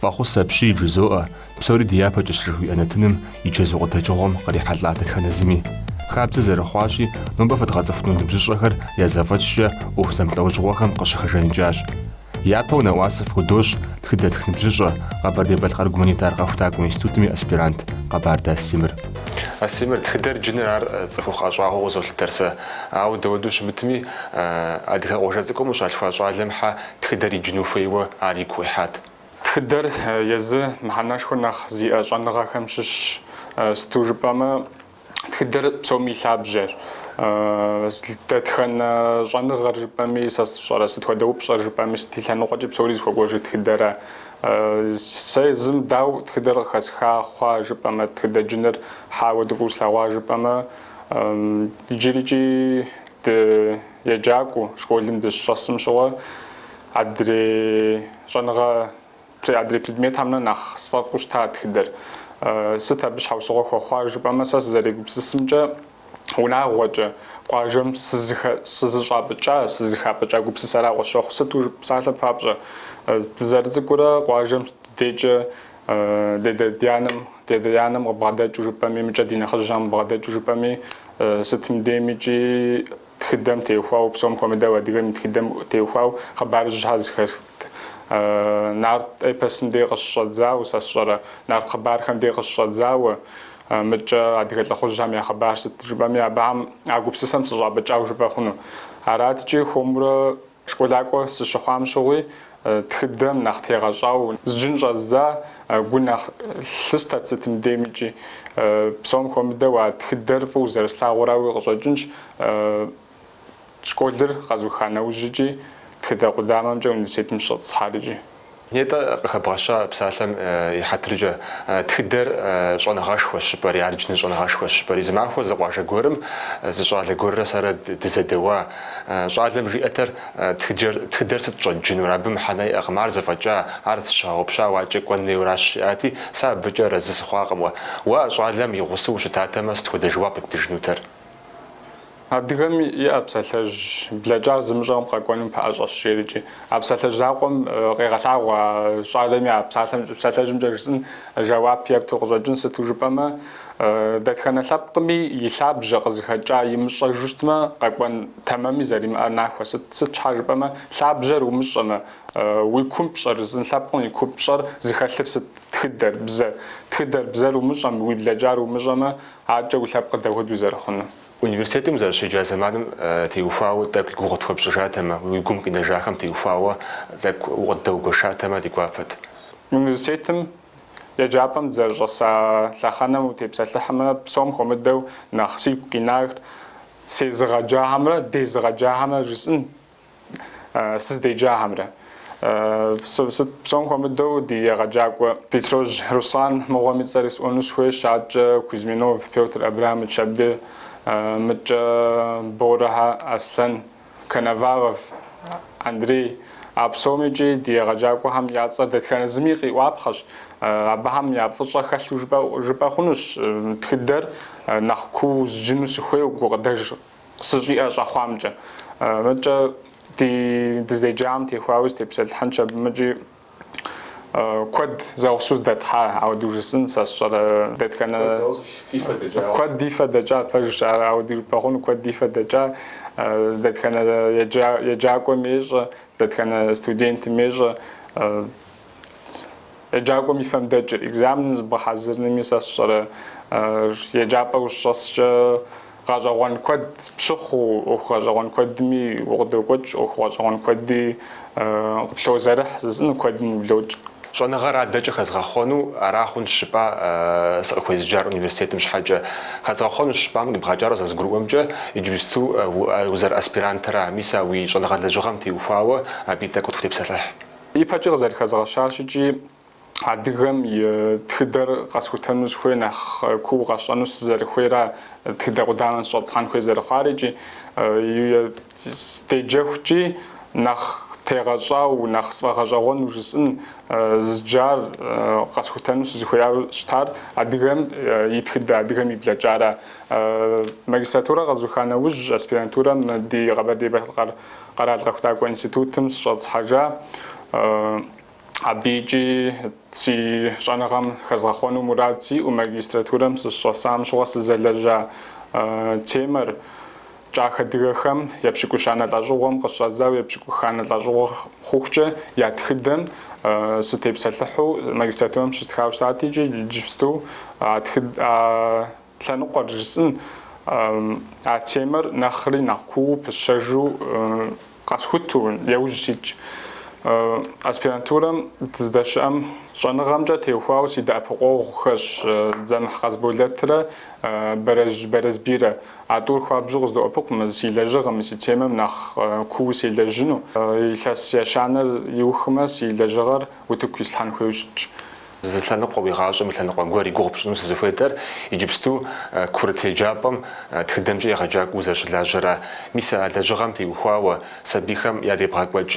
Фӏэхъус апщий, вжызоӏэ, псори дяпэкӏэщ жыхуиӏэ нэтыным и чэзу къыдэкӏыгъуэм кърихьэлӏа дэтхэнэ зыми. Хабзэ зэрыхъуащи, нобэ фэдгъэцӏыхуну ныбжьыщӏэхэр я зэфӏэкӏкӏэ ӏуэху зэмылӏэужьыгъуэхэм къыщыхэжаныкӏащ. Япэу нэӏуасэ фхудощӏ тхыдэтх ныбжьыщӏэ, Къэбэрдей-Балъкъэр гуманитар къэхутакӏуэ институтым и аспирант Къэбардэ Астемыр. Астемыр, тхыдэр джыныр ар цӏыхухъу ӏэщӏагъэу къызолъытэр сэ. Ауэ дауэду щымытми, адыгэ къуажэ цӏыкӏум къыщалъхуа щӏалэм хьэ тхыдэр иджыну хуейуэ ар игу къихьат. Тхыдэр езы мыхьэнэшхуэ нэхъ зиӏэ щӏэныгъэхэм щыщщ. Сыту жыпӏэмэ, тхыдэр псоми и лъабжьэщ. Дэтхэнэ щӏэныгъэр жыпӏэми сэ сщӏэрэ, сыт хуэдэ упщӏэр жыпӏэми, сыт и лъэныкъуэкӏи псори зыхуэкӏуэжыр тхыдэра. Сэ езым, дауэ тхыдэр къыхэсха хъуа жыпӏэмэ, тхыдэр джыныр хьэ ауэду фӏыу слъэгъуа жыпӏэмэ, иджырикӏи ды. Еджакӏуэу школым дыщыщӏэсым щыгъуэ адрей щӏэныгъэ, адрей предметхэмрэ нэхъ сфӏэфӏу щыта тхыдэр. Сыт абы щхьэусыгъуэ хуэхъуар жыпӏэмэ, сэ сызэрегупсысымкӏэ, унагъуэкӏэ къуажэм сызыщӏапӏыкӏа, сызыхапӏыкӏа гупсысэрау къысщохъу. Сыту псалъэ папщӏэ, дызэрыцӏыкӏурэ къуажэм ди дейкӏэ Дядэ дянэм, дядэ янэм къыбгъэдэкӏыу жыпӏэми, мыдкӏэ ди нэхъыжьхэм къыбгъэдэкӏыу жыпӏэми, сытым деймикӏи тхыдэм теухуау, псом хуэмыдэу адыгэм и тхыдэм теухуау хъыбарыжьхэр зэхэсхт. Нарт эпосым дей къыщыщӏэдзауэ, сэ сщӏэрэ, нарт хъыбархэм дей къыщыщӏэдзауэ, мыдкӏэ адыгэ лӏыхъужьхэм я хъыбар сыт жыпӏэми, абыхэм а гупсысэм сыщӏапӏыкӏау жыпӏэ хъуну. Араткӏи хуэмурэ. Школакӏуэ сыщыхъуам щыгъуи, тхыдэм нэхъ тегъэщӏау зджын щӏэздза, гу нэхъ лъыстэт сытым деймикӏи. Псом хуэмыдэу а тхыдэр фӏыуэ зэрыслъагъурауи къыщӏэкӏынщ. Школыр къэзуха нэужьикӏи, тхыдэ къудамэмкӏэ университетым сыщӏэтӏысхьарикӏи. Нетӏэ, къыхэбгъэща псалъэм и хьэтыркӏэ, тхыдэр щӏэныгъэшхуэщ жыпӏэри, ар джыныр щӏэныгъэшхуэщ жыпӏэри. Зы махуэ зы къуажэ гуэрым зы щӏалэ гуэррэ сэрэ дызэдэуа. Щӏалэм жиӏэтэр, Тхыд, тхыдэр сыт щӏэджынур? Абы мыхьэнэ иӏэкъым, ар зэфӏэкӏа, ар зыщыгъэгъупщау адкӏэ кӏуэн хуейуэращ, жиӏати, сэ абыкӏэ арэзы сыхъуакъым уэ. Уэ а щӏалэм и гъусэу ущытатэмэ, сыт хуэдэ жэуап ептыжынутэр? Адыгэм иӏэ псалъэжь блэкӏар зымыщӏэм къэкӏуэным пэӏэщӏэщ, жерикӏи. А псалъэжь закъуэм къегъэлъагъуэ а щӏалэми а псалъэм, псалъэжьымкӏэ жысӏын жэуап епту къыщӏэкӏын, сыту жыпӏэмэ, дэтхэнэ лъэпкъми и лъабжьэ къызыхэкӏа имыщӏэжу щытмэ, къэкӏуэн тэмэми зэримыӏэр нахуэ. Сыт сыт щхьэ жыпӏэмэ, лъабжьэр умыщӏэмэ, уи купщӏэр, жысӏын лъэпкъым и купщӏэр зыхэлъыр сыт, тхыдэр, бзэр. Тхыдэр, бзэр умыщӏэм, уи блэкӏар умыщӏэмэ, Аткӏэ уи лъэпкъыр дапхуэдэу зэрыхъунур? Университетым узэрыщеджа зэманым теухуауэ тӏэкӏу и гугъу тхуэпщӏыжатэмэ, уи гум къинэжахэм теухуауэ тӏэкӏу укъыддэугуэшатэмэ ди гуапэт. Университетым еджапӏэм дызэрыщӏэса лъэхъэнэм утепсэлъыхьмэ, псом хуэмыдэу нэхъ сигу къинар сезыгъэджахэмрэ дезыгъэджахэмрэ жысӏын сыздеджахэмрэ. Сыт псом хуэмыдэу ди егъэджакӏуэ Бетрожь Руслан мыгъуэм и цӏэр исӏуэну сыхуейщ, аткӏэ Кузьминов Пётр Абрамыч абы, мыдкӏэ Борэхэ Аслъэн, Коновалов Андрей, а псом икӏи ди егъэджакӏуэхэм я цӏэр дэтхэнэ зыми къиӏуапхъэщ, абыхэм я фӏыщӏэ хэлъу жыпӏэ хъунущ, тхыдэр нэхъ куу зджыну сыхуейуэ гукъыдэж Сыщӏиӏэ щӏэхъуамкӏэ. Мыдкӏэ ди дыздеджахэм теухуауи сытепсэлъыхьынщ абым икӏи. Куэд зэгъусэу зэдэтхьа, ауэдэу жысӏын сэ сщӏэрэ дэтхэнэ. Куэд зэгъусэу фи фэ дэкӏауэ. Куэд ди фэ дэкӏа, пэжщ ар, ауэдэу жыпӏэ хъуну, куэд ди фэ дэкӏа, дэтхэнэ еджакӏуэми ещӏэ, дэтхэнэ студентми ещӏэ. Еджакӏуэм и фэм дэкӏыр. Экзаменым зыбгъэхьэзырынми сэ сщӏэрэ еджапӏэ ущӏэскӏэ гъэщӏэгъуэн куэд пщыхъуу, ӏуэху гъэщӏэгъуэн куэдми укъыдокӏуэкӏ, ӏуэху гъэщӏэгъуэн куэди къыплъозэрыхь, жысӏын куэдым ублокӏ. Щӏэныгъэр адэкӏэ хэзгъэхъуэну ара хъунщ жыпӏа сыкъыхуезыджар университетым щхьэкӏэ? Хэзгъэхъуэнущ жыпӏам къибгъэкӏар зэрызгурыӏуэмкӏэ, иджыпсту узэрыаспирантра, мис а уи щӏэныгъэ лэжьыгъэм теухуауэ абы и тӏэкӏу тхутепсэлъыхь. Ипэкӏи къызэрыхэзгъэщащи икӏи, адыгэм и тхыдэр къэсхутэну сыхуей нэхъ куу къэсщӏэну сызэрыхуейра, тхыдэ къудамэм сыщӏэтӏысхьэн хуей зэрыхъуар икӏи седжэхукӏи, нэхъ тегъэщӏауэ, нэхъ сфӏэгъэщӏэгъуэну жысӏын зджар къэсхутэну сызыхуеяуэ щытар адыгэм и тхыдэ, адыгэм и блэкӏара. Магистратурэр къэзуха нэужь, аспирантурэм ди Къэбэрдей-Балъкъэр Къэрал Къэхутакӏуэ институтым сыщӏэтӏысхьэжа, абы икӏи си щӏэныгъэм хэзгъэхъуэну мурад сиӏэу, магистратурэм сыщӏэсам щыгъуэ сызэлэжьа темэр, кӏах адыгэхэм епщыкӏущанэ лӏэщӏыгъуэм къыщӏэдзауэ епщыкӏуханэ лӏэщӏыгъуэ хъухукӏэ я тхыдэм сытепсэлъыхьу магистратурэм щыстхауэ щытат икӏи иджыпсту а Лъэныкъуэр жысӏын а темэр нэхъри нэхъ куу пысщэжу къэсхуту яужь ситщ. Аспирантурэм дыздэщыӏэм щӏэныгъэмкӏэ теухуауэ си дэӏэпыкъуэгъухэщ Дзэмыхь Къасболэтрэ Бэрэсбийрэ. А тӏур хуабжьу къыздоӏэпыкъу мы си лэжьыгъэми, си темэм нэхъ куу селэжьыну. Илъэс ещанэр иухмэ, си лэжьыгъэр утыку ислъхьэн хуейу щытщ. Зы лъэныкъуэ уи гъащӏэм и лъэныкъуэ гуэр и гугъу пщӏыну сызыхуейдэр иджыпсту курыт еджапӏэм тхыдэмкӏэ егъэджакӏуэу узэрыщылажьэра. Мис а лэжьыгъэм теухуауэ, сабийхэм ядебгъэкӏуэкӏ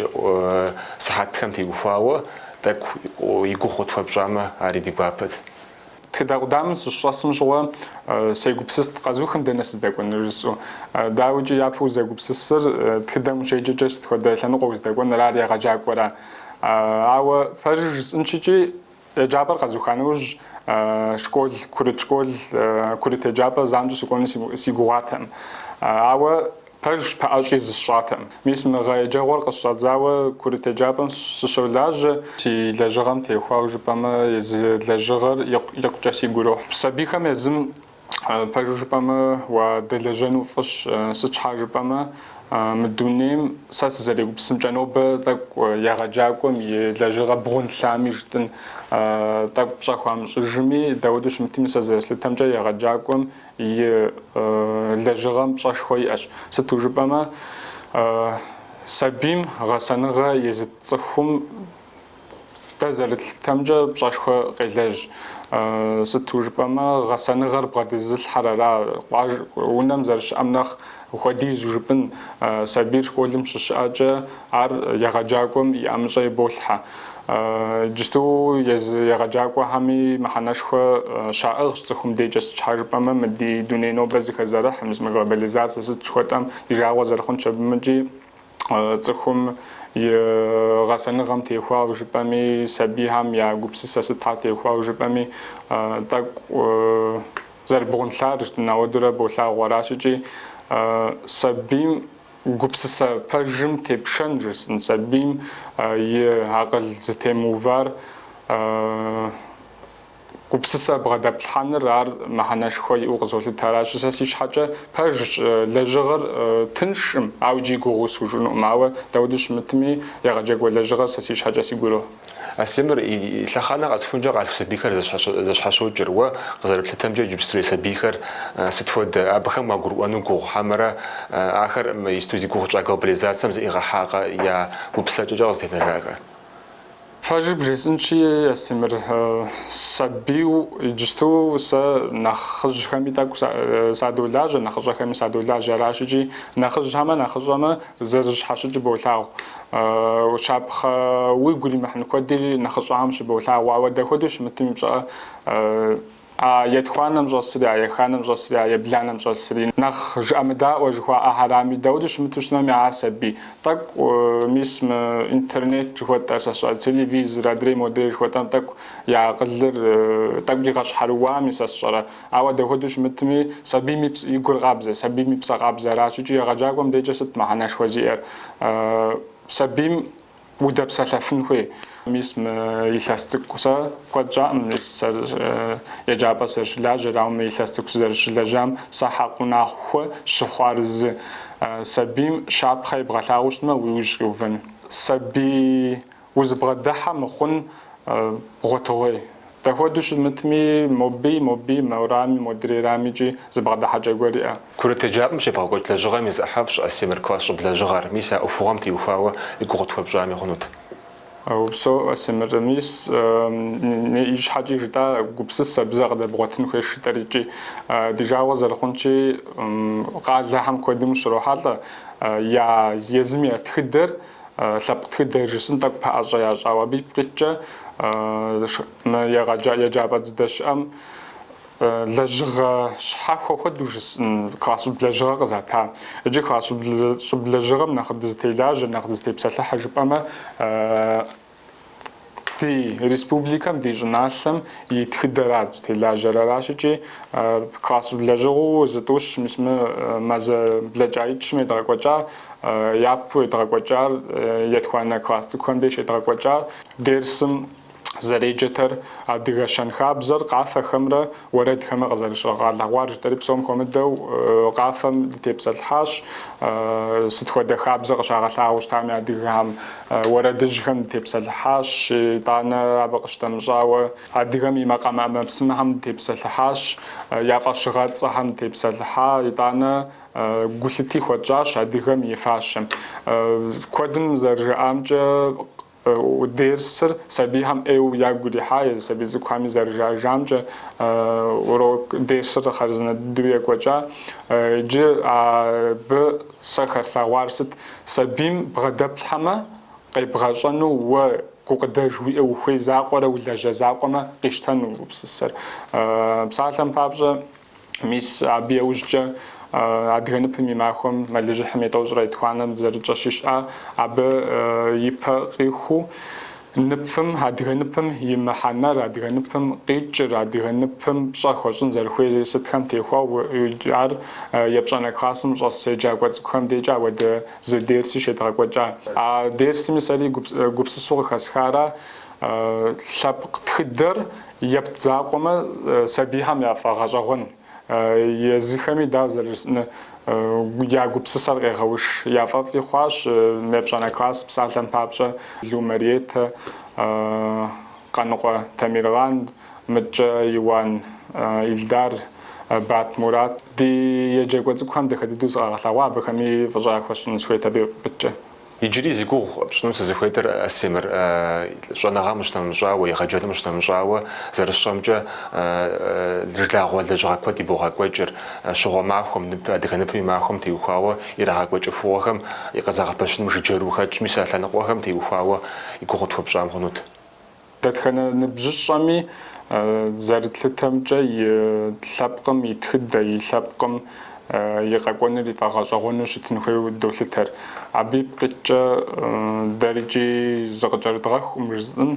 сыхьэтхэм теухуауэ тӏэкӏу и гугъу къытхуэпщӏамэ, ари ди гуапэт. Тхыдэ къудамэм сыщыщӏэсым щыгъуэ сегупсыст къэзухым дэнэ сыздэкӏуэныр жысӏэу. Дауикӏи, япэу узэгупсысыр, тхыдэм ущеджэкӏэ сыт хуэдэ лъэныкъуэ уздэкӏуэныр, ар егъэджакӏуэра? Ауэ пэжыр жысӏынщ икӏи, еджапӏэр къэзуха нэужь, школ, курыт школ, курыт еджапӏэ занщӏэу сыкӏуэну си гугъатэм. Ауэ пэжщ пэӏэщӏи зысщӏатэм. Мис мы гъэ еджэгъуэр къысщӏадзауэ курыт еджапӏэм сыщолажьэ. Си лэжьыгъэм теухуауэ жыпӏэмэ, езы лэжьыгъэр икъукӏэ сигу ирохь. Сабийхэм езым Пэжу жыпӏэмэ, уадэлэжьэну фӏыщ, сыт щхьа жыпӏэмэ, мы дунейм сэ сызэрегупсымкӏэ нобэ тӏэкӏу егъэджакӏуэм и лэжьыгъэ бгъунлъами жытӏын, тӏэкӏу пщӏэ хуамыщӏыжми, дауэду щымытми сэ зэрыслъытэмкӏэ егъэджакӏуэм и лэжьыгъэм пщӏэшхуэ иӏэщ. Сыту жыпӏэмэ, сабийм гъэсэныгъэ езыт цӏыхум, Дэ зэрытлъытэмкӏэ пщӏэшхуэ къелэжь. Сыту жыпӏэмэ, гъэсэныгъэр бгъэдэзылъхьэр ара, къуаж, унэм зэрыщыӏэм нэхъ хуэдизу жыпӏын. Сабийр школым щыщыӏэкӏэ, ар егъэджакӏуэм и ӏэмыщӏэ иболъхьэ. Иджысту егъэджакӏуэхэми мыхьэнэшхуэ щаӏыгъщ цӏыхум декӏэ, сыт щхьа жыпӏэмэ, мы ди дуней нобэ зэхэзэрыхь, мис мы глобализацэ сыт жыхуэтӏэм ди жагъуэ зэрыхъунщи, абымкӏи. цӏыхум и гъэсэныгъэм теухуауэ жыпӏэми, сабийхэм я гупсысэ сытхэр теухуауэ жыпӏэми, тӏэкӏу зэрыбгъунлъар жытӏын, ауэдурэ болъагъу аращ икӏи сабийм гупсысэ пэжым тепшэн жысӏын, сабийм и акъыл зытемыувар Гупсысэ бгъэдэплъхьэныр ар мыхьэнэшхуэ иӏэу къызолъытэ. Аращи, сэ си щхьэкӏэ пэжщ лэжьыгъэр тыншым, ауэ иджыри гугъуу схужыӏэнукъым. Ауэ дауэду щымытми, егъэджакӏуэ лэжьыгъэр сэ си щхьэкӏэ сигу ирохь. Астемыр, лъэхъэнэ къэсхункӏэ къалъху сабийхэр зэщхьэщокӏыр, уэ къызэрыплъытэмкӏэ иджыпстурей сабийхэр сыт хуэдэ, абыхэм уагурыӏуэну гугъу хьэмэрэ, ахэр иджысту зи гугъу тщӏа глобализацэм зэӏигъэхьакъэ, я гупсысэкӏэкӏэ къызэтенэжакъэ? Пэжыр бжесӏынщи, Астемыр, сабийу иджысту сэ нэхъыжьхэми тӏэкӏу садолажьэ, нэхъыщӏэхэми садолажьэ. Аращикӏи, нэхъыжьхэмэ, нэхъыщӏэмэ зэрыщхьэщыкӏыр болъагъу. Щапхъэ уигу иримыхьын куэди нэхъыщӏэхэм щыболъагъу, ауэ дэ хуэдэу щымытым пщӏэ. А етхуанэм щӏэсри, еханэм щӏэсри, ебланэм щӏэсри, нэхъ жыӏэмыдаӏуэ жыхуаӏэхэрами, дауэдэу щымыту щытми, а сабий. Тӏэкӏу, мис, мы интернет жыхуэтӏэр, сэ сщӏэрэ, телевизор, адрей модрей жыхуэтӏэм тӏэкӏу я акъылыр тӏэкӏу игъэщхьэрыуами, сэ сщӏэрэ? Ауэ дапхуэдэу щымытми, сабийм и пс, и гур къабзэ, сабийм и псэ къабзэ аращ икӏи егъэджакӏуэм дежкӏэ сыт мыхьэнэшхуэ зиӏэр? Сабийм Удэпсэлъэфын хуей. Мис мы илъэс цӏыкӏу сэ куэд щӏаӏым, мис сэ еджапӏэ сызэрыщылажьэр, ауэ мы илъэс цӏыкӏу сызэрыщылэжьам сэ хьэкъыу нахуэ щыхъуар зы сабийм щапхъэ ебгъэлъагъуу щытмэ, уи ужь къиувэн. Сабий узыбгъэдыхьэ мыхъун бгъуэтыгъуей. Дапхуэдэу щымытми, моби, моби, морами, модрейрамикӏи зыбгъэдыхьэкӏэ гуэр иӏэ. Курыт еджапӏэм щебгъэкӏуэкӏ лэжьыгъэм и зы ӏыхьэфӏщ, Астемыр, класс щӏыб лэжьыгъэр, мис а ӏуэхугъуэм теухуауэ и гугъу тхуэпщӏами хъунут. Упсэу, Астемыр, мис ищхьэкӏи жытӏа, гупсысэ, бзэ къыдэбгъуэтын хуейщ жытӏэр икӏи. Ди жагъуэ зэрыхъунщи, къалэхэм куэдым ущрохьэлӏэ я езым я тхыдэр, лъэпкъ тхыдэр жысӏын тӏэкӏу пэӏэщӏэ ящӏауэ. Абы ипкъ иткӏэ мы еджапӏэ дыздэщыӏэм Лэжьыгъэ щхьэхуэ хуэдэу жысӏын, класс щӏыб лэжьыгъэ къызата. Иджы класс щӏыб лэжьыгъэм нэхъ дызытелажьэ, нэхъ дызытепсэлъыхьэ жыпӏэмэ, ди республикэм, ди щӏыналъэм и тхыдэра дызытелажьэр. Аращ икӏи класс щӏыб лэжьыгъэу зытӏущ, мис мы мазэ блэкӏаитӏ-щым едгъэкӏуэкӏа, япэу едгъэкӏуэкӏар, етхуанэ класс цӏыкӏухэм деж едгъэкӏуэкӏар, дерсым зэреджэтэр, адыгэ щэнхабзэр къафэхэмрэ уэрэдхэмрэ къызэрыщыгъэлъэгъуар жытӏэри псом хуэмыдэу къафэм дытепсэлъыхьащ, сыт хуэдэ хабзэ къыщагъэлъагъуэу щытами адыгэхэм, уэрэдыжьхэм дытепсэлъыхьащ, итӏанэ абы къыщытэмыщӏауэ адыгэм и макъамэ ӏэмэпсымэхэм дытепсэлъыхьащ, я фӏэщыгъэцӏэхэм дытепсэлъыхьа, итӏанэ гулъыти хуэтщӏащ адыгэм и фащэм. Куэдым зэрыжаӏамкӏэ, Дерсыр сабийхэм ӏейуэ ягу ирихьа, езы сабий цӏыкӏухэми зэрыжаӏэжамкӏэ, урок дерсыр хъарзынэ дыдэу екӏуэкӏа. Иджы абы сэ хэслъэгъуар сыт? Сабийм бгъэдэплъхьэмэ, къебгъэщӏэну уэ гукъыдэж уиӏэ ухуей закъуэрэ улэжьэ закъуэмэ къищтэну гупсысэр. Псалъэм папщӏэ, Мис абы яужькӏэ адыгэ ныпым и махуэм мэлыжьыхьым и тӏощӏрэ етхуанэм зэрытщӏэщи, щыӏа, абы и пэ къихуэу ныпым, адыгэ ныпым и мыхьэнэр, адыгэ ныпым къикӏыр, адыгэ ныпым пщӏэ хуэщӏын зэрыхуейр сытхэм теухуауэ, ар епщӏанэ классым щӏэс еджакӏуэ цӏыкӏухэм декӏэ ауэдэ зы дерси щедгъэкӏуэкӏа. А дерсми сэри гупсысэу къыхэсхара, лъэпкъ тхыдэр Епт закъуэмэ, сабийхэм яфӏэгъэщӏэгъуэн езыхэми, дауэ зэрыжысӏэну, я гупсысэр къегъэуш. Яфӏэфӏи хъуащ мы епщӏанэ класс псалъэм папщӏэ Лу Мариетэ, Къаныкъуэ Темирлан, мыдкӏэ Иуан Илдар, Бат Мурат. Ди еджакӏуэ цӏыкӏухэм дахэ дыдэу зыкъагъэлъэгъуа, абыхэми фӏыщӏэ яхуэсщӏын сыхуейт абы ипкъ иткӏэ. Иджыри зи гугъу пщӏыну сызыхуейтэр, Астемыр, щӏэныгъэм къыщынэмыщӏауэ, егъэджэным къыщынэмыщӏауэ зэрысщӏэмкӏэ жылагъуэ лэжьыгъэ куэд ибогъэкӏуэкӏыр, щыгъуэ махуэм, ныпы, адыгэ ныпым и махуэм теухуауэ ирагъэкӏуэкӏ ӏуэхугъуэхэм и къызэгъэпэщыным жыджэру ухэтщ, мис а лъэныкъуэхэм теухуауэ и гугъу тхуэпщӏам хъунут. Дэтхэнэ ныбжьыщӏэми зэрытлъытэмкӏэ и лъэпкъым и тхыдэ, и лъэпкъым и къэкӏуэныр ифӏэгъэщӏэгъуэну щытын хуейуэ долъытэр. Абы ипкъ иткӏэ дэр икӏи зыкъыкӏэрыдгъэхукъым жысӏэн,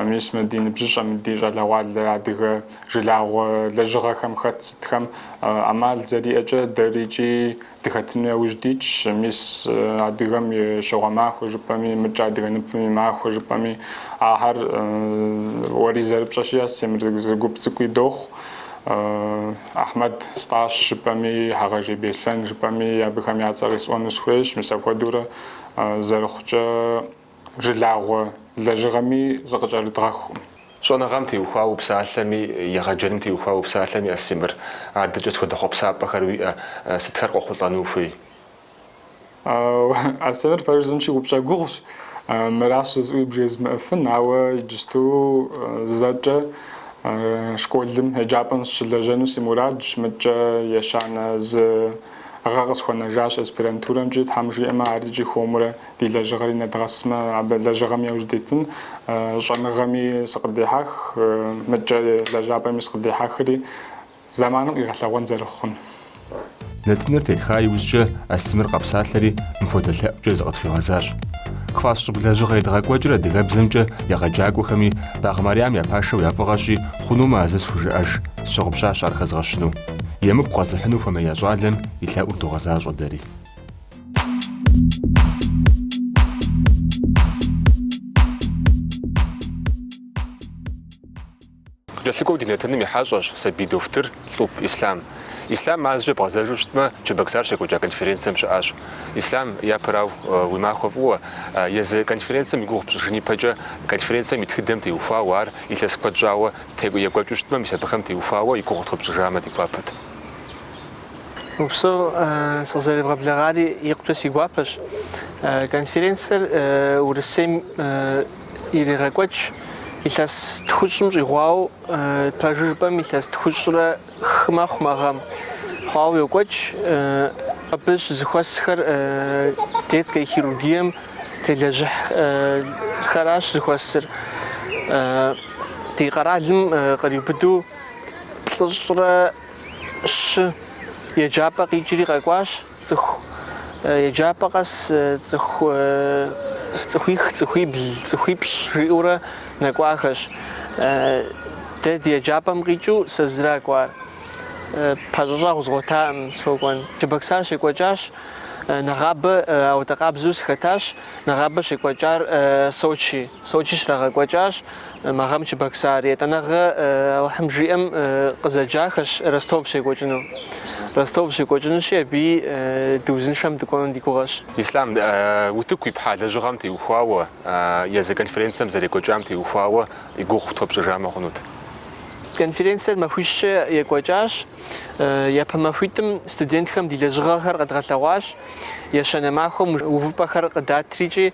мис мы ди ныбжьыщӏэм, ди щӏалэгъуалэ адыгэ жылагъуэ лэжьыгъэхэм хэт сытхэм ӏэмал зэриӏэкӏэ дэр икӏи Дыхэтыну яужь дитщ, мис, адыгэм и щыгъуэ махуэ жыпӏэми, мыдкӏэ адыгэ ныпым и махуэ жыпӏэми, ахэр уэри зэрыпщӏэщи, Астемыр, зы гуп цӏыкӏуи дохъу. Ахьмэд Стӏащ жыпӏэми, Хьэгъэжей Беслъэн жыпӏэми, абыхэм я цӏэр къисӏуэну сыхуейщ, мис апхуэдэурэ зэрыхъукӏэ. жылагъуэ лэжьыгъэми зыкъыкӏэрыдгъэхукъым. Щӏэныгъэм теухуауэ упсалъэми, егъэджэным теухуауэ упсалъэми, Астемыр, адэкӏэ сыт хуэдэ хъуэпсапӏэхэр уиӏэ, сытхэр къохъулӏэну ухуей? Астемыр, пэж жысӏэнщи, упщӏэ гугъущ, мыращ жысӏэуи бжезмыӏэфын, ауэ иджысту зэкӏэ школым, еджапӏэм сыщылэжьэну си мурадщ, мыдкӏэ ещанэ зы гъэ къысхуэнэжащ аспирантурэмкӏи, тхьэм жиӏэмэ ар икӏи хуэмурэ Ди лэжьыгъэри нэдгъэсмэ, абы лэжьыгъэми яужь дитын, щӏэныгъэми сыкъыддихьэх, мыдкӏэ лэжьапӏэми сыкъыддихьэхри, зэманым къигъэлъэгъуэн зэрыхъун. Нэтыныр тетха иужькӏэ Астемыр къэпсалъэри, мыпхуэдэ лъэӏукӏэ зыкъытхуигъэзащ. Класс щӏыб лэжьыгъэ едгъэкӏуэкӏыр адыгэбзэмкӏэ егъэджакӏуэхэми, Багъ Марьям я пашэу я фӏыгъэщи, хъунумэ а зы схужыӏэж, сщыгъупщащ ар хэзгъэщыну. Емыкӏу къэзыхьыну хуэмея щӏалэм и лъэӏур догъэзащӏэ дэри. Кӏэлъыкӏуэу ди нэтыным и хьэщӏэщ сабий дохутыр Лӏуп Ислъам. Ислъам мазэкӏэ бгъэзэжу щытмэ, Чебоксар щекӏуэкӏа конференцэм щыӏащ. Ислъам, япэрау, уи махуэ фӏыуэ. Езы конференцэм и гугъу пщӏыжын ипэкӏэ, конференцэм и тхыдэм теухуауэ ар илъэс куэд щӏауэ текӏу екӏуэкӏыу щытмэ, мис абыхэм теухуауэ и гугъу тхуэпщӏыжамэ, ди гуапэт. Упсэу, сыкъызэревгъэблэгъари икъукӏэ си гуапэщ. Конференцэр Урысейм ирегъэкӏуэкӏ илъэс тхущӏым щӏигъуауэ, пэжу жыпӏэм илъэс тхущӏрэ хы мэхъу мы гъэм, хъуауэ йокӏуэкӏ. Абы щызыхуэсхэр детскэ хирургием телэжьыхьхэращ зыхуэсыр. Ди къэралым къриубыдэу плӏыщӏрэ щы еджапӏэ къикӏри къэкӏуащ, цӏыху еджапӏэ къэс цӏыху цӏыхуих, цӏыхуибл, цӏыхуипщӏ жиӏэурэ нэкӏуахэщ. Дэ ди еджапӏэм къикӏыу сэ зыра кӏуар. Пэщӏэщӏэгъу згъуэтакъым сокӏуэн. Чебоксар щекӏуэкӏащ, нэгъабэ ауэдэ къабзэу сыхэтащ, нэгъабэ щекӏуэкӏар Сочи. Сочи щрагъэкӏуэкӏащ. Мы гъэм Чебоксар, етӏанэгъэ Алыхьым жиӏэм, къызэджахэщ Ростов щекӏуэкӏыну. Ростов щекӏуэкӏынущи, абыи дыузыншэм дыкӏуэну ди гугъэщ. Ислъам утыку ипхьа лэжьыгъэм теухуауэ, езы конференцэм зэрекӏуэкӏам теухуауэ и гугъу тхуэпщӏыжамэ хъунут. Конференцэр махуищкӏэ екӏуэкӏащ. Япэ махуитӏым студентхэм ди лэжьыгъэхэр къэдгъэлъэгъуащ, ещанэ махуэм увыпӏэхэр къыдатрикӏи,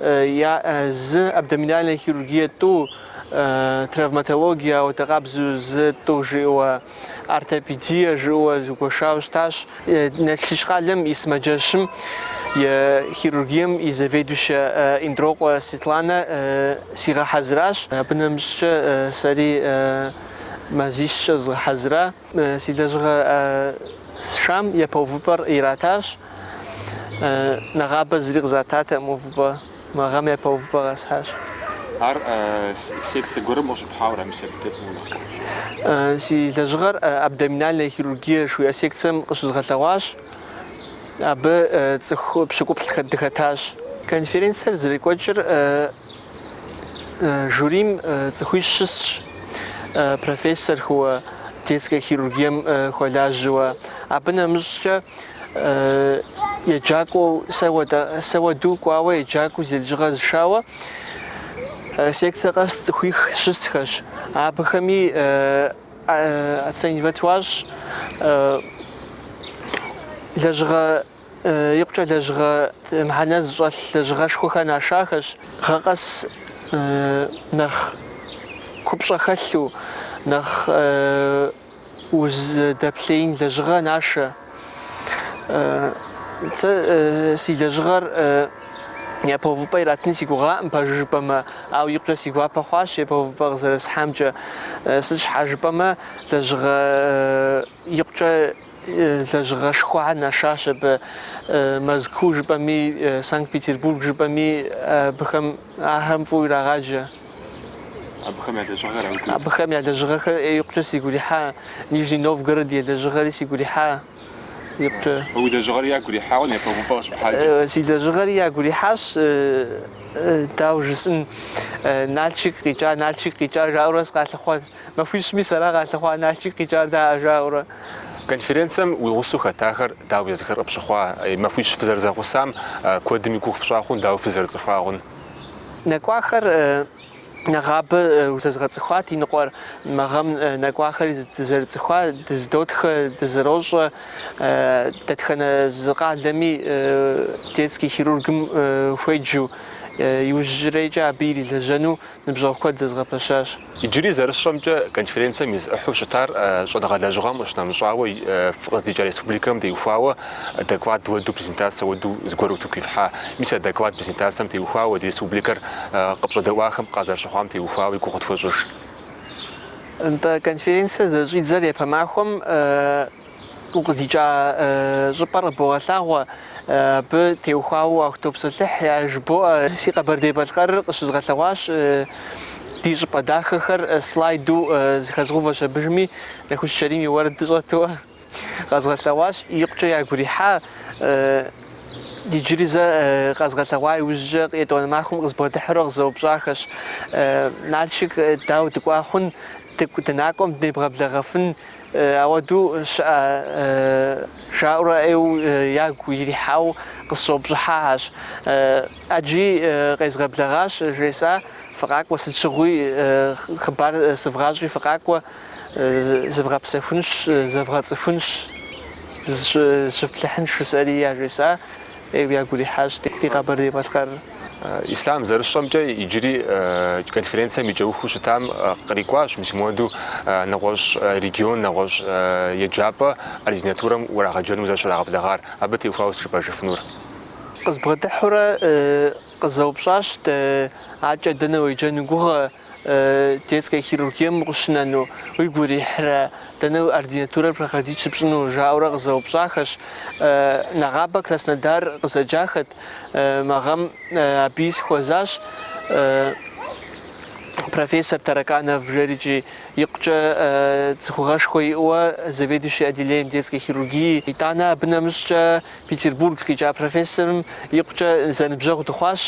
я зы абдоминальная хирургия тӏу, травматология, ауэдэ къабзэу зы тӏу жиӏэуэ, ортопедия жиӏэуэ зыгуэшауэ щытащ. Налшык къалэм и сымаджэщым и хирургием и заведующэ Индрокъуэ Светланэ сигъэхьэзыращ. Абы нэмыщӏкӏэ сэри мазищкӏэ згъэхьэзыра. Си лэжьыгъэ сшам япэ увыпӏэр иратащ. Нэгъабэ зыри къызататэкъым увыпӏэ. Мы гъэм япэ увыпӏэ къэсхьащ. Ар секцэ гуэрым къыщыпхьауэра, мис абы дэ фӏыуэ нэхъ къыӏущӏэ? Си лэжьыгъэр абдоминальная хирургия жыхуиӏэ секцэм къыщызгъэлъэгъуащ. Абы цӏыху пщыкӏуплӏ дыхэтащ. Конференцэр зэрекӏуэкӏыр Жюрим цӏыхуищ щысщ, профессорхэуэ детскэ хирургием хуэлажьэуэ. Абы нэмыщӏкӏэ еджакӏуэу сэ уэду кӏуауэ еджакӏуэу зи лэжьыгъэ зышауэ секцэ къэс цӏыхуих щысхэщ. Абыхэми оценивать хуащӏ лэжьыгъэ икъукӏэ лэжьыгъэ мыхьэнэ зыщӏэлъ лэжьыгъэшхуэхэр нашахэщ. Гъэ къэс нэхъ купщӏэ хэлъу, нэхъ узыдэплъеин лэжьыгъэ нашэ. Сэ си лэжьыгъэр япэ увыпӏэ иратыни си гугъаӏым, пэжу жыпӏэмэ, ауэ икъукӏэ си гуапэ хъуащ япэ увыпӏэ къызэрысхьамкӏэ. Сыт щхьа жыпӏэмэ, лэжьыгъэ Икъукӏэ лэжьыгъэшхуэхэ нашащ абы. Мэзкуу жыпӏэми, Санкт-Петербург жыпӏэми абыхэм, ахэм фӏыуэ ирагъаджэ. Абыхэм я лэжьыгъэхэр уигу ирихьа? Абыхэм я лэжьыгъэхэр икъукӏэ сигу ирихьа. Нижний Новгород я лэжьыгъэри сигу ирихьа икъукӏэ. А уи лэжьыгъэри ягу ирихьауэ япэ увыпӏэ къыщыпхьакӏэ? Си лэжьыгъэри ягу ирихьащ, дауэ жысӏэн, Налшык къикӏа, Налшык къикӏа жаӏэурэ сыкъалъыхъуа. Махуищми сэра къалъыхъуа Налшык къикӏар даа, жаӏэурэ. Конференцэм уи гъусэу хэтахэр дауэ езыхэр къыпщыхъуа? Махуищ фызэрызэгъусам куэдым и гугъу фщӏа хъун, дауэ фызэрыцӏыхуагъун? Нэкӏуахэр нэгъабэ зэзгъэцӏыхуат, иныкъуэр мы гъэм нэкӏуахэри дызэрыцӏыхуа, дызэдотхэ, дызэрощӏэ. Дэтхэнэ зы къалэми детский хирургым хуеджу, иужьрейкӏэ абы ирилэжьэну ныбжьэгъу куэд зэзгъэпэщащ. Иджыри зэрысщӏэмкӏэ, конференцэм и зы ӏыхьэу щытар щӏэныгъэ лэжьыгъэм къыщынэмыщӏауэ, фыкъыздикӏа республикэм теухуауэ доклад уэду, презентацэ уэду зыгуэр утыку ифхьа. Мис а доклад, презентацэм теухуауэ ди республикэр къыпщӏэдэӏуахэм къазэрыщыхъуам теухуауэ и гугъу къытхуэщӏыж. Нтӏэ, конференцэ зэрыщӏидзэр япэ махуэм укъыздикӏа щӏыпӏэр къыбогъэлъагъуэ, абы теухуауэ укъытопсэлъыхь, яжыбоӏэ. Си Къэбэрдей-Балъкъэрыр къыщызгъэлъэгъуащ ди щӏыпӏэ дахэхэр слайду зэхэзгъэувэщ абыжми, Нэхущ Чэрим и уэрэд щӏэту къэзгъэлъэгъуащ. Икъукӏэ ягу ирихьат, иджыри зэ къэзгъэлъэгъуа иужькӏэ етӏуанэ махуэм къызбгъэдыхьурэ къызэупщӏахэщ, Налшык дауэ дыкӏуа хъун, дыкӏу дынакӏуэм дынебгъэблэгъэфын Ауэдэу щыӏэ, жаӏэурэ ӏейуэ ягу ирихьауэ къысщӏэупщӏыхьащ. ӏэджи къезгъэблэгъащ, жесӏа, фыкъакӏуэ, сыт щыгъуи хъыбар сывгъащӏи фыкъакӏуэ, зывгъэпсэхунщ, зэвгъэцӏыхунщ, зыщыфплъыхьынщ жысӏэри, яжесӏа. ӏейуэ ягу ирихьащ ди Къэбэрдей-Балъкъэр. Ислъам, зэрысщӏэмкӏэ, иджыри конференцэм и кӏэухыу щытам кърикӏуащ мис моду нэгъуэщӏ регион, нэгъуэщӏ еджапӏэ ординатурэм урагъэджэну узэрыщрагъэблэгъар. Абы теухуауэ сыт жыпӏэжыфынур. Къызбгъэдыхьурэ къызэупщӏащ, адэкӏэ дэнэ уеджэну уи гугъэ? Детскэ хирургием укъыщынэну уигу ирихьрэ? Дэнэ ординатурэр проходить щыпщӏыну? жаӏэурэ къызэупщӏахэщ. Нэгъабэ Краснодар къызэджахэт. Мы гъэм абыи сыхуэзащ профессор Тараканов жери икӏи, икъукӏэ цӏыхугъэшхуэ иӏэуэ заведующий отделением детской хирургии. Итӏанэ абы нэмыщӏкӏэ Петербург къикӏа профессорым икъукӏэ зэныбжьэгъу дыхъуащ,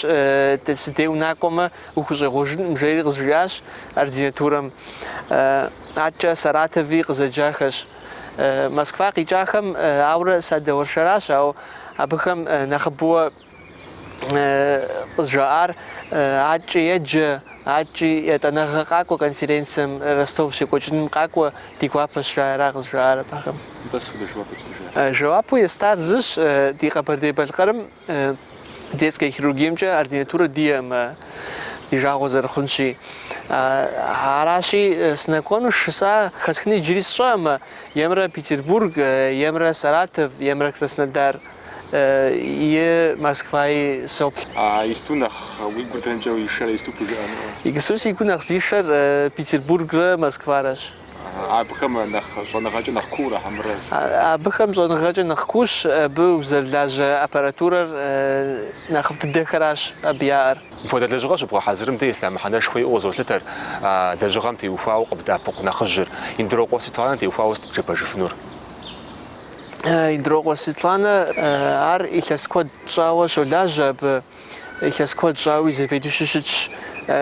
си дей унакӏуэмэ, Ухущӏегъуэжынкъым, жери къызжиӏащ ординатурэм. Аткӏэ Саратови къызэджахэщ. Москва къикӏахэм ауэрэ садэуэршэращ, ауэ абыхэм нэхъыбэуэ къызжаӏар аткӏэ еджэ, аткӏи ятӏанэгъэ къакӏуэ конференцием Ростов щекӏуэкӏыным къакӏуэ ди гуапэщ жаӏэра къызжаӏар абыхэм. Нтӏэ схуэдэ жэуап ептыжа? Жэуапу естар зыщ, ди Къэбэрдей-Балъкъэрым Детскэ хирургиемкӏэ ординатурэ диӏэкъым ди жагъуэ зэрыхъунщи. Аращи, сынэкӏуэну жысӏащ, хэсхынур иджыри сщӏэркъым, емрэ Петербург, емрэ Саратов, емрэ Краснодар е Москваи соплъ. А иджыпсту нэхъ уи гур дэнкӏэ ишэрэ, иджыпсту пхужыӏэнукъэ? Иджыпсту си гур нэхъ зишэр Петербургрэ Москварэщ. Абыхэм нэхъ щӏэныгъэкӏэ нэхъ куурэ хьэмэрэ? Абыхэм щӏэныгъэкӏэ нэхъ куущ абы узэрылажьэ аппаратурэр, нэхъыфӏ дыдэхэращ абы яӏэр. Мыпхуэдэ лэжьыгъэ щыбгъэхьэзырым дэ Ислъам мыхьэнэшхуэ иӏэу къызолъытэр, а лэжьыгъэм теухуауэ къыбдэӏэпыкъу нэхъыжьыр, Индрокъуэ Светланэ теухуауэ сыт къыджепӏэжыфынур? Индрокъуэ Светланэ ар илъэс куэд щӏауэ щолажьэ абы. Илъэс куэд щӏауи заведующи щытщ.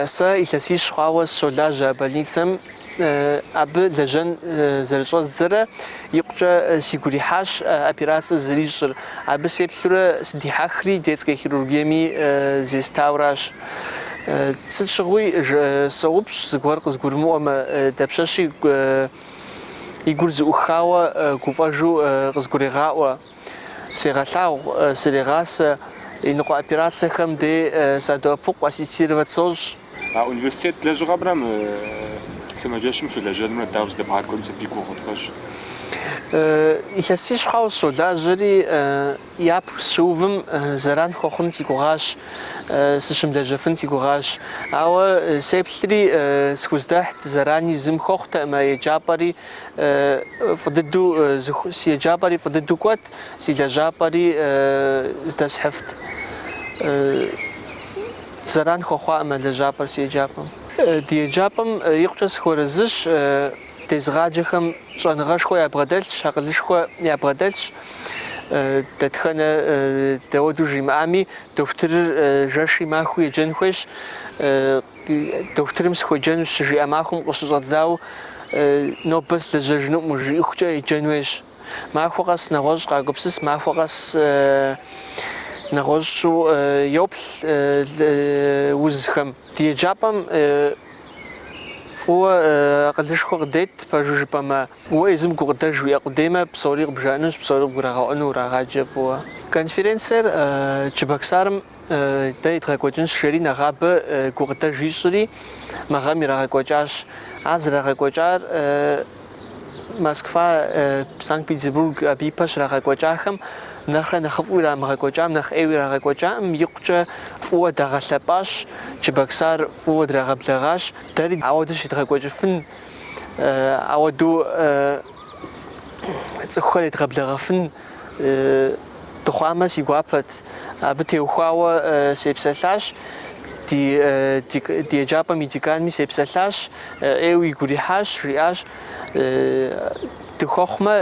Сэ илъэсищ хъуауэ сыщолажьэ а больницэм. Абы лэжьэн зэрыщӏэздзэрэ икъукӏэ сигу ирихьащ операцэ зэрищӏыр. Абы сеплъурэ сыдихьэхри детскэ хирургиеми зестауращ. Сыт щыгъуи, соупщӏ, зыгуэр къызгурымыӏуэмэ, дапщэщи и гур зэӏухауэ гуфӏэжу къызгурегъаӏуэ. Сегъэлъагъу, срегъасэ, иныкъуэ операцэхэм де садоӏэпыкъу, ассистировать сощӏ. А университет лэжьыгъэмрэ мы сымаджэщым щылэжьэнымрэ дауэ зэдэбгъакӏуэм абы и гугъу къытхуэщӏ. Илъэсищ хъуауэ сщолажьэри, япэу сыщыувым зэран хуэхъун си гугъащ, сыщымылэжьэфын си гугъащ. Ауэ сеплъри, схуздэхьт, зэрани зым хуэхъутэкъым а еджапӏэри, Фӏы дыдэу зыху... Си еджапӏэри фӏы дыдэу кӏуэт, си лэжьапӏэри здэсхьыфт. Зэран хуэхъуакъым а лэжьапӏэр си еджапӏэм. Ди еджапӏэм икъукӏэ сыхуэрэзыщ, дезыгъаджэхэм щӏэныгъэшхуэ ябгъэдэлъщ, акъылышхуэ ябгъэдэлъщ. Дэтхэнэ дауэду жимыӏами, дохутырыр жэши махуи еджэн хуейщ. Дохутырым сыхуеджэнущ щыжиӏэ махуэм къыщыщӏэдзауэ нобэ сылэжьэжынукъым жиӏыхукӏэ еджэн хуейщ. Махуэ къэс нэгъуэщӏ къагупсыс, махуэ къэс нэгъуэщӏу йоплъ узхэм. Ди еджапӏэм фӏыуэ акъылышхуэ къыдет, пэжу жыпӏэмэ, уэ езым гукъыдэж уиӏэ къудеймэ, псори къыбжаӏэнущ, псори къыбгурагъэӏуэну урагъаджэ фӏыуэ. Конференциер Чебоксарым Дэ едгъэкӏуэкӏынщ, жери нэгъабэ гукъыдэ жищӏри, мы гъэм ирагъэкӏуэкӏащ. Ар зэрагъэкӏуэкӏар Москва, Санкт-Петербург абы ипэ щрагъэкӏуэкӏахэм нэхърэ нэхъыфӏу ирамыгъэкӏуэкӏам, нэхъ ӏейуэ ирагъэкӏуэкӏаӏым икъукӏэ фӏыуэ дагъэлъэпӏащ, Чебоксар фӏыуэ драгъэблэгъащ. Дэри ауэдэу щедгъэкӏуэкӏыфын, ауэдэу цӏыхухэр едгъэблэгъэфын. дыхъуамэ, си гуапэт. Абы теухуауэ сепсэлъащ, ди еджапӏэм и деканми сепсэлъащ, ӏейуэ игу ирихьащ, жиӏащ, дыхуэхъумэ,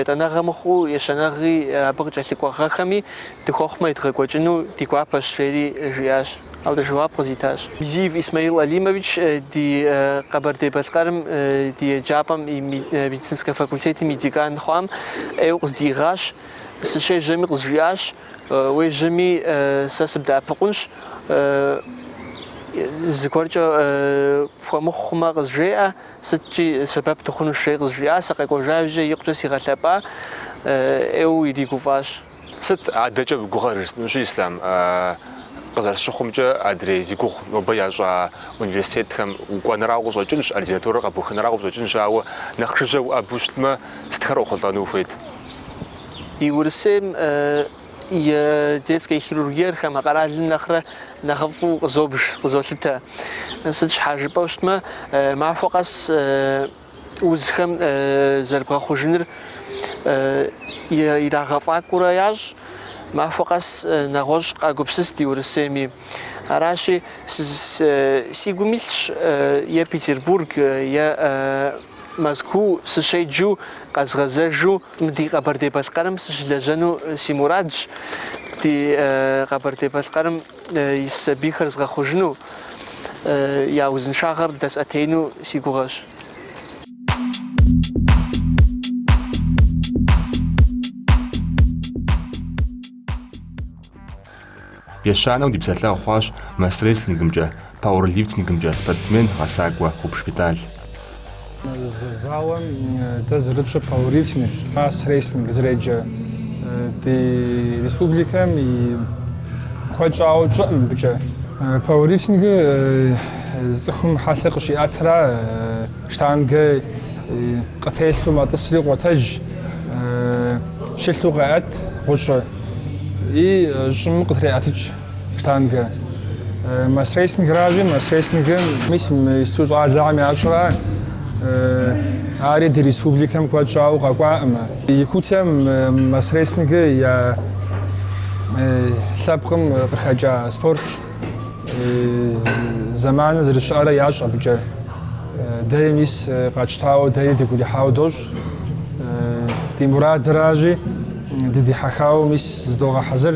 етӏанэгъэ мыхъуу, ещанэгъи абы къыкӏэлъыкӏуэ гъэхэми дыхуэхъумэ, едгъэкӏуэкӏыну ди гуапэщ, жери жиӏащ. Ауэдэу жэуап къызитащ. Мизиев Исмаил Алимович ди Къэбэрдей-Балъкъэрым ди еджапӏэм и медицинскэ факультетым и декан хъуам ӏейуэ къыздиигъащ. Сыщежьэми къызжиӏащ, уежьэми сэ сыбдэӏэпыкъунщ, зыгуэркӏэ пхуэмыхъу хъумэ къызжеӏэ, сыткӏи сэбэп дыхъунущ, жери къызжиӏа, сыкъэкӏуэжа иужькӏэ икъукӏэ сигъэлъэпӏа, ӏейуэ иригуфӏащ. Сыт адэкӏэ уи гугъэр жысӏэнущи, Ислъам, къызэрысщыхъумкӏэ адрей зи гугъу нобэ ящӏа университетхэм укӏуэнрауэ къыщӏэкӏынщ, ординатурэ къэбухынрауэ къыщӏэкӏынщ, ауэ нэхъ жыжьэ уӏэбэу щытмэ, сытхэр уэхъулӏэну ухуейт? Ди Урысейм и детскэ хирургиер хамэ къэралым нэхърэ нэхъыфӏу къызобж, къызолъытэ. Сыт щхьа жыпӏэу щытмэ, махуэ къэс узхэм зэрыбгъэхъужыныр ирагъэфӏакӏуэурэ ящӏ. Махуэ къэс нэгъуэщӏ къагупсыс ди Урысейми. Аращи, си гум илъщ е Петербург, е Мэзкуу сыщеджэу, къэзгъэзэжу мы ди Къэбэрдей-Балъкъэрым сыщылэжьэну си мурадщ. Ди Къэбэрдей-Балъкъэрым ис сабийхэр згъэхъужыну, я узыншагъэр дэсӏэтеину си гугъэщ. Ещанэу ди псэлъэгъу хъуащ мас-рестлингымкӏэ. Пауэрлифтингымкӏэ спортсмен гъэсакӏуэ Гъубж Бетӏал. Зы залым дэ зэрыпщӏыр пауэрлифтингщ, мас-рестлинг зэреджэ. Ди республикэм и куэд щӏауэ тщӏыӏым мыбыкӏэ. Пауэрлифтингыр цӏыхум хьэлъэ къыщиӏэтра, штангэ къытелъу мэтӏысри къотэдж, щылъу къеӏэт гъущӏыр и щӏым къытреӏэтыкӏ. Штангэ. Масс-рестлингращи, масс-рестлингыр мис исту щӏалэхьэм ящӏра, ари ди республикэм куэд щӏауэ къэкӏуаӏымэ. Якутием масс-рестлингыр я лъэпкъым къыхэкӏа спортщ. Зэманыр зэрыщыӏэрэ ящӏ абыкӏэ. Дэри мис къэтщтауэ, дэри дыгурихьауэ дощӏ. Ди мурадыращи, дыдихьэхауэ мис здогъэхьэзыр.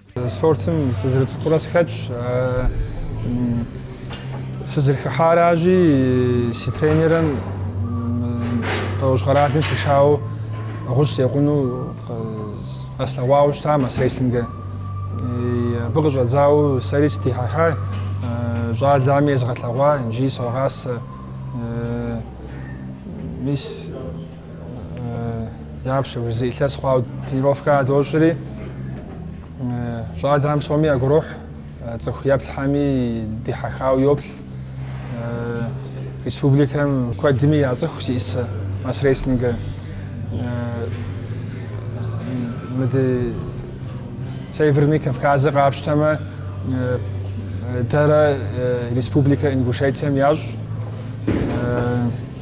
Спортым сызэрыцӏыкӏурэ сыхэтщ. Сызэрыхыхьаращи, си тренерым Къэущ къэралым сишауэ гъущӏ секъуну къэслъэгъуауэ щыта масс-рестлингыр. Абы къыщӏэдзауэ сэри сыдихьэхьа, щӏалэми езыгъэлъэгъуа, иджыри согъасэ. Мис Дапщэ, уи зы илъэс хъуауэ тренировкэ дощӏри, щӏалэхэм псоми ягурохь, цӏыху еплъхьэми дихьэхауэ йоплъ. Республикэм куэдми яцӏыху зиӏысэ масс-рестлингыр. Мыды Северный Кавказыр къапщтэмэ, дэрэ республикэ Ингушетием ящӏ.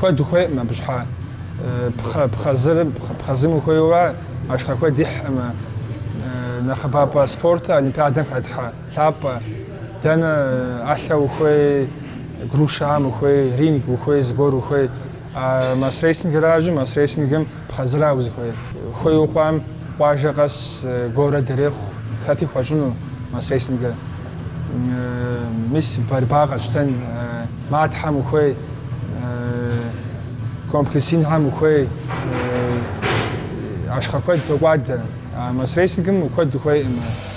Куэд ухуейкъым абы щхьа. Пхъэ, пхъэзыр, пхъэзым ухуейуэ ахъшэ куэд ихькъымэ. Нэхъыбапӏэ спортыр Олимпиадэм хэтхьэ лъапӏэ. Дэнэ ӏэлъэ ухуей, грушам ухуей, ринг ухуей, зыгуэр ухуей. А масс-рестлингыращи, масс-рестлингым пхъэзыра узыхуейр. Хуейуэ хъуам къуажэ къэс город ирехъу хэти хуэщӏыну масс-рестлингыр. Мис борьба къэтщтэн, матхьэм ухуей, комплекс инхэм ухуей, ахъшэ куэд токӏуадэ. А масс-рестлингым куэд ухуейкъым.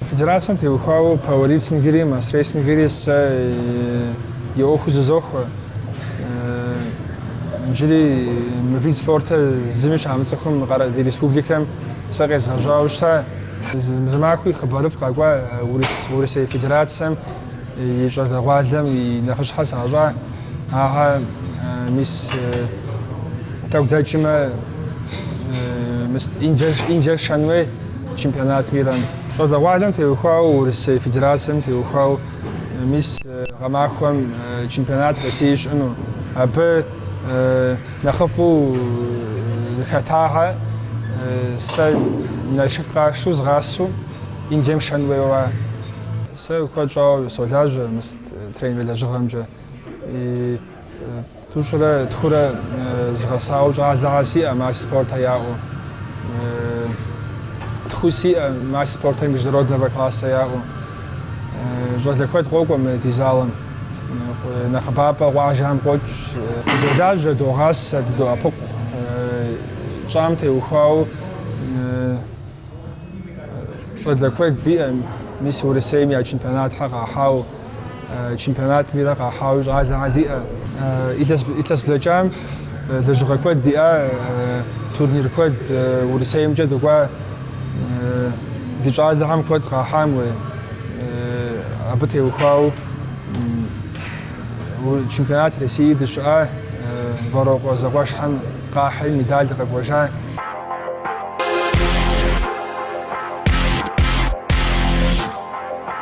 Федерацэм теухуауэ пауэрлифтингри, масс-рестлингри сэ и ӏуэхуу зызохуэ. Иджыри мы вид спортыр зыми щамыцӏыхум ди республикэм сэ къезгъэжьауэ щыта. Зы махуи хъыбарыфӏ къэкӏуа Урысей Федерацэм и щӏалэгъуалэм и нэхъыщхьэр сащӏа. Ахэр мис тӏэкӏу дэкӏмэ, мис Индиер шэн хуей. Чемпионат мирам щӏалэгъуалэм теухуау Урысей Федерацэм теухуау мис гъэмахуэм чемпионат России щыӏэну. Абы нэхъыфӏу хэтахьэ сэ Налшык къасшу згъасу Индием шэн хуейуа. Сэ куэд щӏауэ солажьэ мыс тренер лэжьыгъэмкӏэ. Тӏущӏрэ тхурэ згъэсауэ щӏалэгъэ сиӏэ мастер спорта яӏэу. Тху сиӏэ мастер спорта международного класса яӏэу. Щӏалэ куэд къокӏуэ мы ди залым. Нэхъыбапӏэ къуажэхэм къокӏ. Дыдолажьэ, догъасэ, дыдоӏэпыкъу. Щӏам теухуауэ щӏалэ куэд диӏэ, мис Урысейм я чемпионатхэр къахьауэ. чемпионат мира къахьауи щӏалэгъэ диӏэ. Илъэс блэкӏам лэжьыгъэ куэд диӏа, турнир куэд Урысеймкӏэ дыкӏуа, ди щӏалэгъэм куэд къахьам. Абы теухуау чемпионат России дыщыӏа, Вэрокъуэ зэкъуэшхьэм къахьри медаль къэкӏуэжа.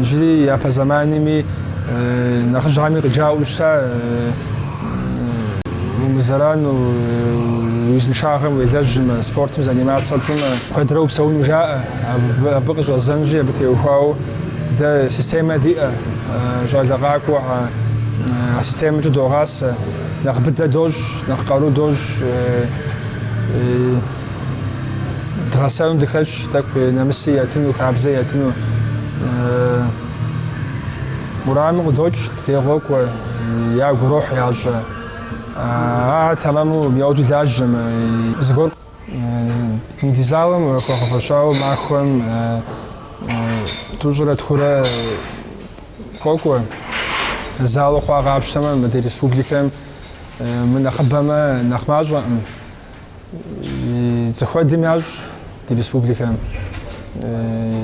Иджыри япэ зэманми нэхъыжьхьэми къыджаӏэу щыта умызэрану уи узыншагъэм уелэжьмэ, спортым занимацца пщӏымэ, куэдрэ упсэуну жаӏэ. Абы къыщӏэзэнщи, абы теухуауэ дэ системэ диӏэ, щӏалэ къакӏуэхьэр а системкӏэ догъасэ. Нэхъ быдэ дощӏ, нэхъ къару дощӏ. Дгъэсэну дыхэлъщ, тӏэкӏу нэмыси яттыну, хабзэ яттыну. Мы уэрамым къыдокӏ, ди дей къокӏуэ, ягу ирохь ящӏэр. Ар тэмэму мыхуэду лажьэмэ, зыгуэр Ди залым хуэгъэфэщауэ махуэм тӏущӏрэ тхурэ къокӏуэ. Залу хъуар къапщтэмэ, мы ди республикэм мынэхъыбэмэ, нэхъ мащӏэкъым. Цӏыху куэдым ящӏ ди республикэм.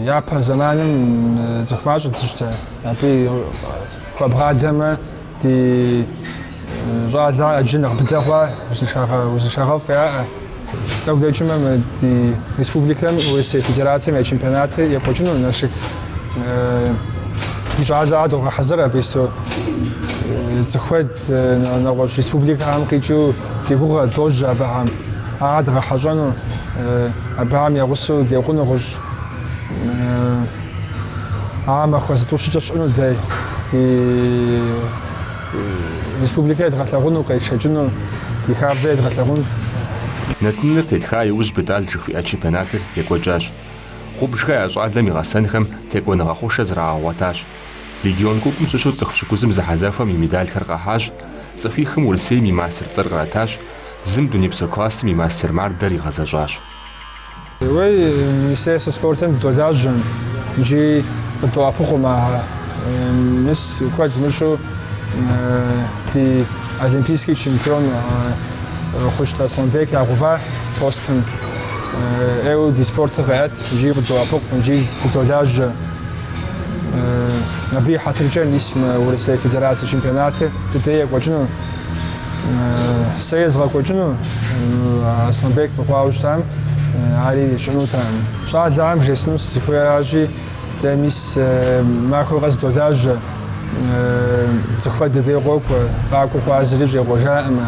Япэ зэманым цӏыху мащӏэ дыщыта. Абы хуэбгъадэмэ Ди щӏалэхьэр иджы нэхъ быдэ хъуа узыншагъэфӏ яӏэ. Тӏэкӏу дэкӏмэ ди республикэм Урысей Федерацэм я чемпионатыр екӏуэкӏыну Налшык ди щӏалэгъэ догъэхьэзыр абы ису. Цӏыху куэд нэгъуэщӏ республикэхэм къикӏыу ди гугъэ дожьэ абыхэм. Ахэр дгъэхьэщӏэну, абыхэм я гъусэу декъуну гъущӏ. А махуэ зытӏущкӏэ щыӏэну, дэ ди республикэ едгъэлъэгъуну, къетшэкӏыну, ди хабзэ едгъэлъэгъуну. Нэтыныр теттха иужь Бетӏал жыхуиӏа чемпионатыр екӏуэкӏащ. Гъубжхэ я щӏалэм и гъэсэнхэм текӏуэныгъэ хъушэ зрагъэгъуэтащ. Легион купым щыщу цӏыху пщыкӏузым зэхьэзэхуэм и медалхэр къахьащ, цӏыхуихым Урысейм и мастер цӏэр къратащ, зым дунейпсо классым и мастер мардэр игъэзэщӏащ. Уей, Министерствэ спортым долажьэм, джи къыддоӏэпыкъум а мис куэд мыщӏэу ди олимпийский чемпион Хъущт Асланбек ягъэува постым. Еуэ ди спортыр къеӏэт, джи къыддоӏэпыкъу, джи дыдолажьэ. Абы и хьэтыркӏэ мис мы Урысей Федерацэ чемпионатыр ди дей екӏуэкӏыну. сэ езгъэкӏуэкӏыну Асланбек мыхъуауэ щытам ари щӏынутэкъым. Щӏалэхэм жесӏэну сызыхуейращи, дэ мис махуэ къэс долажьэ, цӏыхухэр ди дей къокӏуэ, къакӏуэу хъуар зыри щӏегъуэжакъым.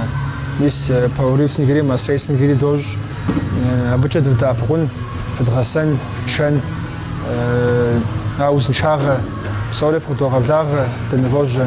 Мис пауэрлифтингри, мас-рестлингри дощӏ. Абыкӏэ дывдэӏэпыкъун, фыдгъэсэн, фытшэн, а узыншагъэ псори фыкъыдогъэблагъэ, дынывожьэ.